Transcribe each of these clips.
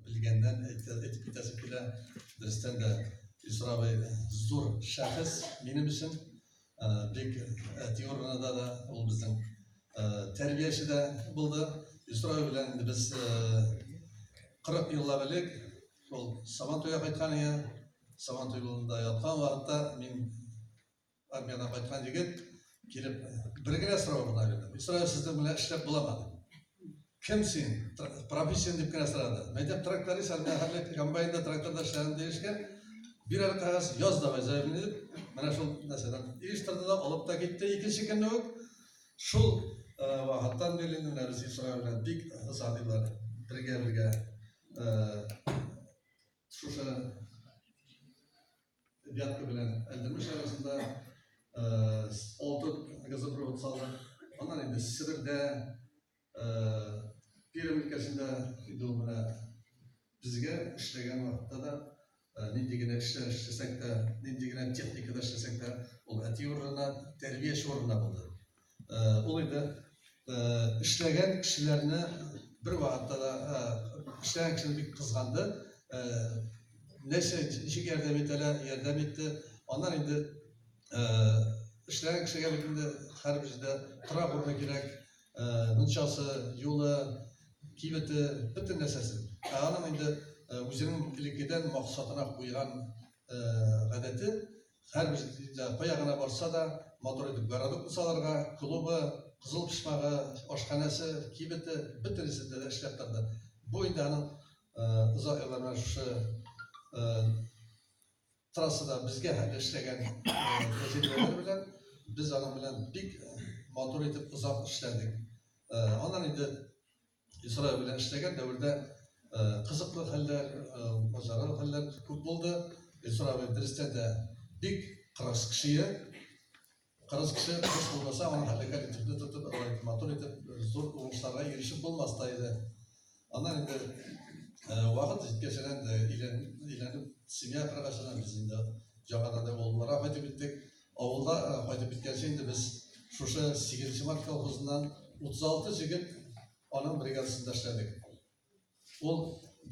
Белгәннән әйтер, әйтеп китәсе килә. Дөрестән дә Илсур абый зур шәхес минем өчен. Ә, Бик әти урынында да ул безнең ә, тәрбияче дә булды. Илсур абый белән инде без ә, 40 еллап элек ул Сабантуйга кайткан иде. Сабантуй юлында яткан вакытта мин Армиядан кайткан егет килеп, бер генә сорау гына бирде. Мин сорау сезнең белән эшләп буламы дип. Кем син? Профессион дип кенә сорады. Мәйтәм тракторист, армия хәлләк комбайнда тракторда эшләгән дигәчкә, бир әле кагаз, яз давай заявление дип, менә шул нәрсәдән иештырды да, алып та китте. Икенче көнне үк шул вакыттан бирле менә без Исра белән бик озатыйлар. Бергә-бергә шушы Вятка белән Әлдермеш арасында алты газопровод салдык. Аннан инде Себердә, Пермь өлкәсендә инде ул менә безгә эшләгән вакытта да нинди генә эшләр эшләсәк тә, нинди генә техникада эшләсәк тә, ул әти урынына, тәрбияче урынына булды. Ул инде эшләгән кешеләрне бер вакытта да эшләгән кешеләрне бик кызганды. Нәрсә ничек ярдәм итәләр, ярдәм итте. Аннан инде эшләгән кешегә бит инде һәрбер җирдә торак урыны кирәк, мунчасы, юлы, кибете, бөтен нәрсәсе. Ә аның инде үзенең элеккедән максатына куйган гадәте Һәрбер кая гына барса да, матур итеп городок кусаларга, клубы, кызыл почмагы, ашханәсе, кибете, бөтенесе дә эшләп торды. Бу инде аның озак еллар белән шушы трассада безгә хәтле эшләгән тәҗрибәләр белән без аның белән бик матур итеп озак эшләдек. Аннан инде Исраил белән эшләгән дәвердә кызыклы хәлләр, мазаралы хәлләр күп булды. Исраил дөрестән дә бик кырыс кеше. Кырыс кеше кырыс булмаса, аны хәлләгән итепне тотып, алай матур итеп, зур уңышларга ирешеп булмас та иде. Аннан инде вакыт җиткәч, әйләнеп, семья кыргачына без инде яңадан да олыларга кайтып киттек. Авылга кайтып киткәнче инде без шушы сигезенче март колхозыннан 36 җегет аның бригадасында эшләдек. Ул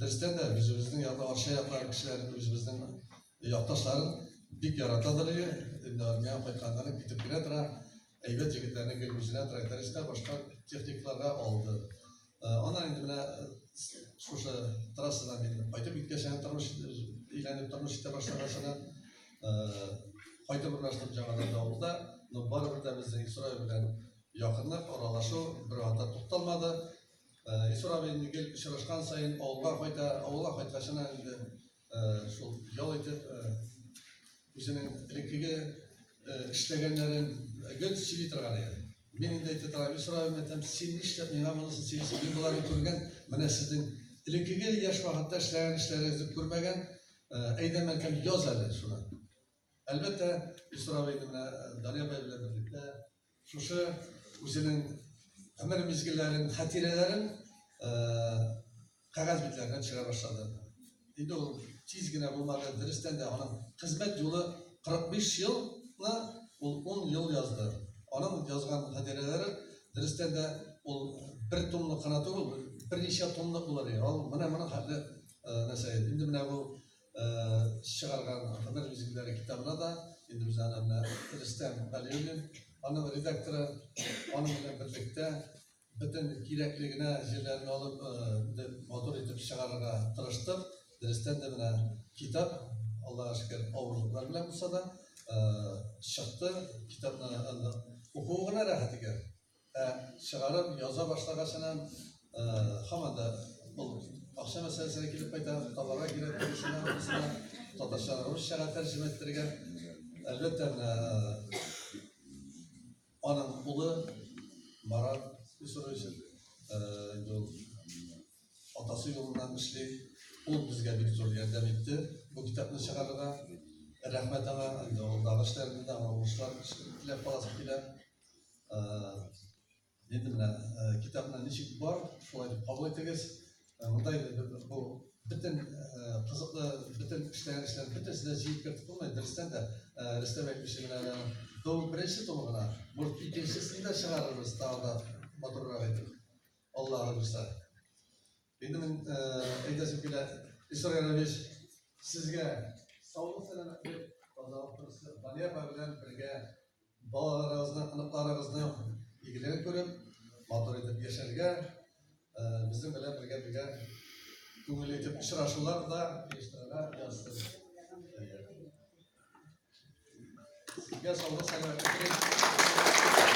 дөрестән дә үзебезнең янда арча яклар кешеләрен, үзебезнең якташларын бик яратадыр иде. Инде армиягә кайтканнарын китеп керә тора, әйбәт егетләрне гел үзенә трактористка, башка техникларга алды. Аннан инде менә шушы трассадан килеп кайтып киткәч, аны тормыш өйләнеп тормыш итә башлаганчына кайтып урнаштым жаңадан авылда. Но барыбер дә безнең Исрай белән якынлык, аралашу бер анда тукталмады. Исрай инде гел очрашкан саен авылга кайта, авылга кайткачына инде Шул ял итеп, үзенең элеккеге эшләгәннәрен гел сөйли торган иде. Мин инде әйтә торам, Исраил мәтәм, син нишләп миңа монысын сөйлисең? Мин боларны күргән, менә сезнең элеккеге яшь вакытта эшләгән эшләрегезне күрмәгән, әйдә мәтәм яз әле шуны. Әлбәттә, Илсур абый гына Данил абый белән берлектә шушы үзенең гомер мизгелләрен, хатирәләрен кәгазь битләренә төшерә башлады. Инде ул тиз генә булмады, дөрестән дә аның хезмәт юлы 45 елны ул 10 ел язды. Аның язган хатирәләре дөрестән дә ул бер томлык кына түгел, берничә томлык булыр иде. Ул менә моның хәтле нәрсә. Инде менә бу чыгарган Һөнәр мизгелләре китабына да инде без аны менә Рөстәм Галиуллин, аның редакторы, аның белән берлектә бөтен кирәкле генә җирләрен алып, инде матур итеп чыгарырга тырыштык. Дөрестән дә менә китап, Аллага шөкер, авырлыклар белән булса да, чыкты. Китапны анда укуы гына рәхәт икән. Ә чыгарып яза башлагачынан һаман да ул акча мәсьәләсенә килеп кайта, товарга кирәк булышына, булышына татарча, русчага тәрҗемә иттерергә. Әлбәттә, аның улы Марат Исурович инде ул атасы юлыннан эшли. Ул безгә бик зур ярдәм итте бу китапны чыгарырга. Рәхмәт аңа, инде ул дагы эшләрендә, аңа уңышлар теләп каласы килә. Нидер менә китапны ничек бар, шулай дип кабул итегез. Мындай бу бөтен кызыклы, бөтен эшләгән эшләр бөтенесе дә җыеп кертеп булмый. Дөрестән дә Рөстәм әйтмешли менә тол беренче тол гына, может икенчесен дә чыгарырбыз тагы да матуррак итеп. Аллаһы булса. Инде мин әйтәсем килә, Исра Ярович, сезгә саулык сәламәтлек, тазалык, балия белән бергә Балаларыгызны, оныкларыгызны игелеген күреп, матур итеп яшәргә, безнең белән бергә бергә күңелле итеп очрашулар да оештырырга язсын. Сезгә саулык, сәламәтлек.